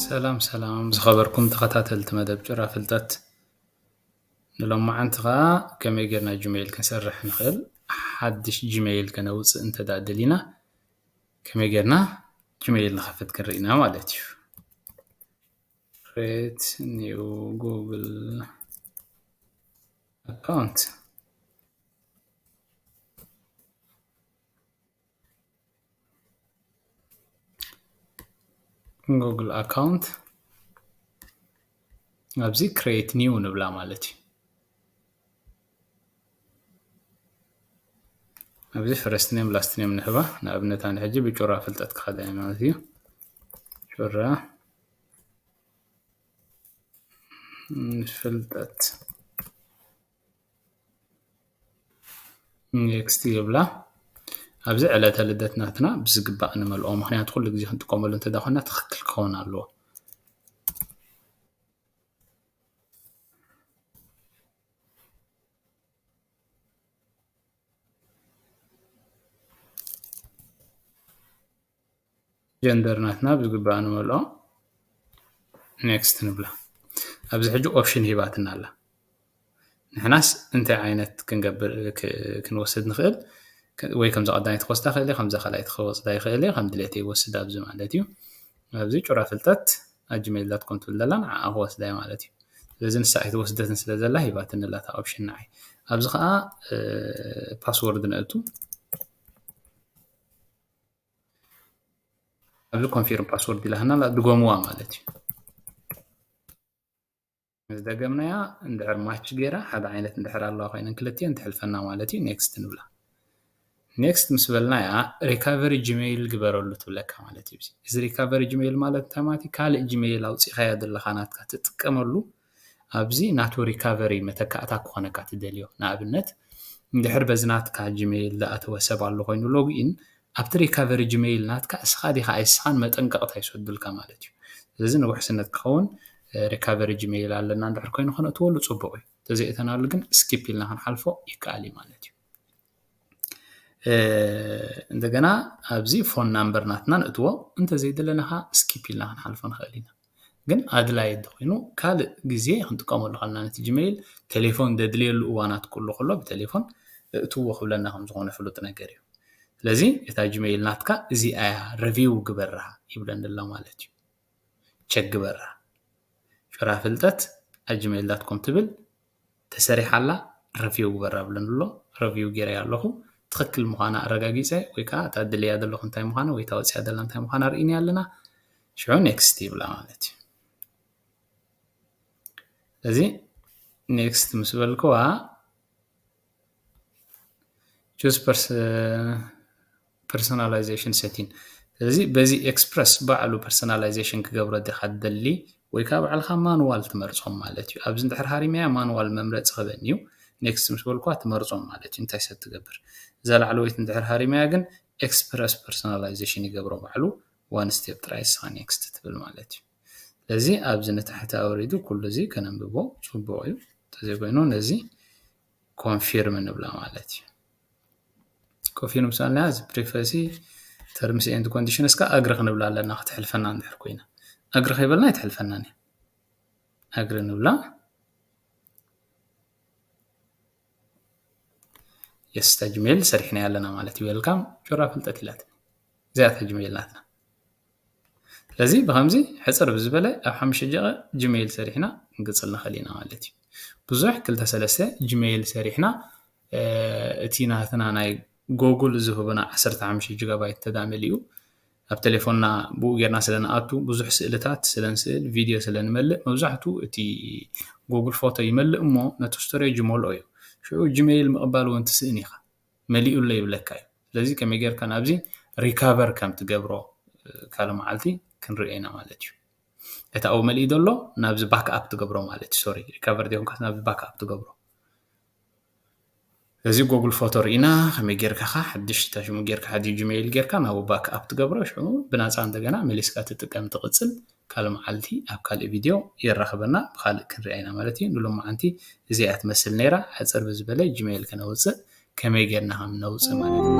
ሰላም ሰላም ዝኸበርኩም ተኸታተልቲ መደብ ጭራ ፍልጠት ንሎማዓንቲ ከዓ ከመይ ጌርና ጂሜይል ክንሰርሕ ንኽእል ሓድሽ ጂሜይል ከነውፅእ እንተ ደሊና ከመይ ጌርና ጂሜይል ንኸፍት ክንርኢና ማለት እዩ ሬት ኒው ጉግል ኣካውንት ጉግል ኣካውንት ኣብዚ ክሬት ኒው ንብላ ማለት እዩ ኣብዚ ፈረስት ኔም ላስት ኔም ንህባ ንኣብነት ኣነ ሕጂ ብጩራ ፍልጠት ክኸደ ማለት እዩ ጩራ ፍልጠት ኔክስት ይብላ ኣብዚ ዕለተ ልደት ናትና ብዝግባእ ንመልኦ ምክንያቱ ኩሉ ግዜ ክንጥቀመሉ እንተዳኮና ትክክል ክኸውን ኣለዎ ጀንደር ናትና ብዝግባእ ንመልኦ ኔክስት ንብላ ኣብዚ ሕጂ ኦፕሽን ሂባትና ኣላ ንሕናስ እንታይ ዓይነት ክንገብር ክንወስድ ንኽእል ወይ ከምዚ ቀዳማይ ክወስዳ ክእል ከም ካልኣይ ክወስዳ ይኽእል እየ ከም ድሌት ይወስድ ኣብዚ ማለት እዩ ኣብዚ ጩራ ፍልጠት ኣጅሜል ዳት ኮም ትብል ዘላ ንዓኣ ክወስዳ እዩ ማለት እዩ ስለዚ ንሳ ኣይትወስደትን ስለ ዘላ ሂባትኒ ኣላ እታ ኦፕሽን ንዓይ ኣብዚ ከዓ ፓስወርድ ነእቱ ኣብዚ ኮንፊርም ፓስወርድ ኢላትና ኣላ ድገምዋ ማለት እዩ ምስ ደገምናያ እንድሕር ማች ገይራ ሓደ ዓይነት እንድሕር ኣለዋ ኮይነን ክልትኤን ትሕልፈና ማለት እዩ ኔክስት ንብላ ኔክስት ምስ በልናያ ሪካቨሪ ጂሜይል ግበረሉ ትብለካ ማለት እዩ እዚ ሪካቨሪ ጂሜይል ማለት እንታይ ማለት እዩ ካልእ ጂሜይል ኣውፂእካዮ ዘለካ ናትካ ትጥቀመሉ ኣብዚ ናቱ ሪካቨሪ መተካእታ ክኾነካ ትደልዮ ንኣብነት እንድሕር በዚ ናትካ ጂመይል ዝኣተወ ሰብ ኣሎ ኮይኑ ሎግኢን ኣብቲ ሪካቨሪ ጂመይል ናትካ እስኻ ዲኻ ኣይስኻን መጠንቀቕታ ይሰዱልካ ማለት እዩ ስለዚ ንውሕስነት ክኸውን ሪካቨሪ ጂመይል ኣለና እንድሕር ኮይኑ ከነእትወሉ ጽቡቕ እዩ ተዘይእተናሉ ግን ስኪፕ ኢልና ክንሓልፎ ይከኣል እዩ ማለት እዩ እንደገና ኣብዚ ፎን ናምበር ናትና ነእትዎ እንተዘይደለና ከዓ ስኪፕ ኢልና ክንሓልፎ ንክእል ኢና ግን ኣድላይ እንተኮይኑ ካልእ ግዜ ክንጥቀመሉ ከለና ነቲ ጅመይል ቴሌፎን ዘድልየሉ እዋናት ክህሉ ከሎ ብቴሌፎን እእትዎ ክብለና ከምዝኮነ ፍሉጥ ነገር እዩ ስለዚ እታ ጅመይል ናትካ እዚኣ እያ ረቪው ግበራ ይብለኒ ኣሎ ማለት እዩ ቸክ ግበራ ጩራ ፍልጠት ኣጅመይል ዳት ኮም ትብል ተሰሪሓ ኣላ ረቪው ግበር ኣብለኒ ኣሎ ረቪው ገይረያ ኣለኹ ትኽክል ምዃና ኣረጋጊፀ ወይ ከዓ እታ ድልያ ዘለኹ እንታይ ምዃና ወይ እታ ወፂኣ ዘላ እንታይ ምዃና ርኢኒ ኣለና ሽዑ ኔክስት ይብላ ማለት እዩ እዚ ኔክስት ምስ በልክዋ ቹዝ ፐርሰናላይዜሽን ሰቲን እዚ በዚ ኤክስፕረስ ባዕሉ ፐርሰናላይዜሽን ክገብሮ ዲኻ ትደሊ ወይ ከዓ ባዕልኻ ማንዋል ትመርፆም ማለት እዩ ኣብዚ እንድሕር ሃሪመያ ማንዋል መምረፂ ክበኒ እዩ ኔክስት ምስ በልኳ ትመርፆም ማለት እዩ እንታይ ሰብ ትገብር እዛ ላዕለወይቲ እንድሕር ሃሪመያ ግን ኤክስፕረስ ፐርሰናላይዜሽን ይገብሮ ባዕሉ ዋን ስቴፕ ጥራይ ንስኻ ኔክስት ትብል ማለት እዩ ስለዚ ኣብዚ ንታሕቲ ኣውሪዱ ኩሉ እዚ ከነንብቦ ጽቡቕ እዩ እንተዘይ ኮይኑ ነዚ ኮንፊርም ንብላ ማለት እዩ ኮንፊርም ሳልና እዚ ፕሪፈሲ ተርምስ ኤንድ ኮንዲሽን እስካ ኣግሪ ክንብላ ኣለና ክትሕልፈና እንድሕር ኮይና ኣግሪ ከይበልና ኣይትሕልፈናን እዩ ኣግሪ ንብላ የስ ተጅሜል ሰሪሕና ኣለና ማለት እዩ ዌልካም ጆራ ፍልጠት ኢላትኒ እዚኣ ተጅሜል ናትና ስለዚ ብከምዚ ሕጽር ብዝበለ ኣብ ሓሙሽተ ደቂቅ ጅመይል ሰሪሕና ክንቅጽል ንክእል ኢና ማለት እዩ ብዙሕ ክልተ ሰለስተ ጅመይል ሰሪሕና እቲ ናትና ናይ ጎጉል ዝህቡና ዓሰርተ ሓሙሽተ ጅጋባይት እንተ መሊኡ ኣብ ቴሌፎንና ብኡ ጌርና ስለ ንኣቱ ብዙሕ ስእልታት ስለ ንስእል ቪድዮ ስለ ንመልእ መብዛሕቱ እቲ ጎጉል ፎቶ ይመልእ እሞ ነቲ ስቶሬጅ ይመልኦ እዩ ሽዑ ጅመይል ምቕባል እውን ትስእን ኢኻ መሊኡ ኣሎ ይብለካ እዩ ስለዚ ከመይ ጌርካ ናብዚ ሪካቨር ከም ትገብሮ ካልእ መዓልቲ ክንሪኦ ኢና ማለት እዩ እቲ ኣብኡ መሊኡ ዘሎ ናብዚ ባክ ኣፕ ትገብሮ ማለት እዩ ሶሪ ሪካቨር ዘይኮንካስ ናብዚ ባክ ኣፕ ትገብሮ እዚ ጎግል ፎቶ ርኢና ከመይ ጌርካ ካ ሓድሽ ሽሙ ጌርካ ሓዲ ጂሜይል ጌርካ ናብ ባክ ኣፕ ትገብሮ ሽዑ ብናፃ እንደገና መሊስካ ትጥቀም ትቕፅል ካልእ መዓልቲ ኣብ ካልእ ቪድዮ የራኽበና ብኻልእ ክንሪኣ ኢና ማለት እዩ ንሎማዓንቲ እዚኣ ትመስል ነይራ ሕጽር ብዝበለ ጅመይል ከነውጽእ ከመይ ጌርና ከም ነውጽእ ማለት እዩ።